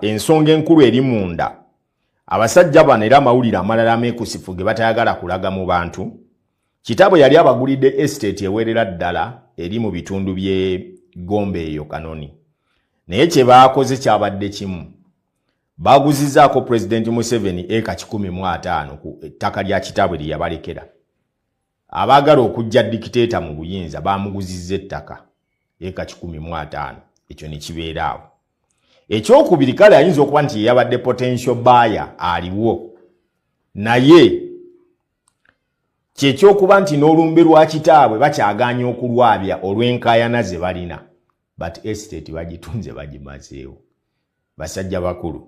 ensonga enkulu eri munda abasajja bano era amawulire amalala ameekusifu ge batayagala kulaga mu bantu kitaabwe yali abagulidde esiteeti eweerera ddala eri mu bitundu by'e gombe eyo kanoni naye kye baakoze kyabadde kimu baaguzizaako pulezidenti museveni eka kikumi mu ataano ku ettaka lya kitaabwe lye yabalekera Abaagala okuggya dikiteeta mu buyinza baamuguzizza ettaka eka kikumi mu ataano ekyo ne kibeera awo. Ekyokubiri kale ayinza okuba nti yeyabadde potential baaya aliwo naye kyekyokuba nti n'olumbe lwa kitaabwe bakyagaanya okulwabya olw'enkaayana ze balina but estate bagitunze bagimazeewo basajja bakulu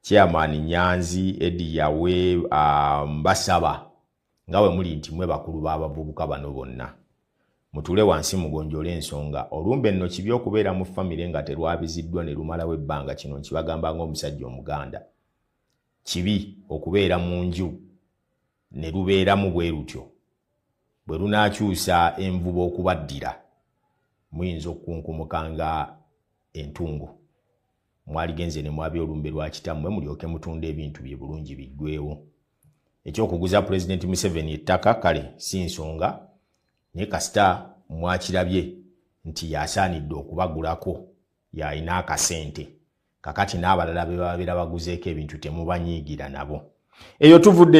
chairman nyanzi edi yawe um, basaba nga bwe muli nti mwe bakulu b'abavubuka bano bonna mutuule wansi mugonjole ensonga olumbe nno kibi okubeera mu famire nga terwabiziddwa ne lumalawo ebbanga kino nkibagamba ng'omusajja omuganda kibi okubeera mu nju ne lubeeramu bwe lutyo bwe lunaakyusa envuba okubaddira muyinza okukunkumuka nga entungo mwaligenze ne mwabya olumbe lwa kitammwe mulyoke mutunda ebintu bye bulungi biggwewo ekyokuguza pulezidenti museveni ettaka kale si nsonga naye kasita mwakirabye nti yasaanidde okubagulako yalina akasente kakati n'abalala be babeera baguzeeko ebintu temubanyiigira nabo eyo tuvudde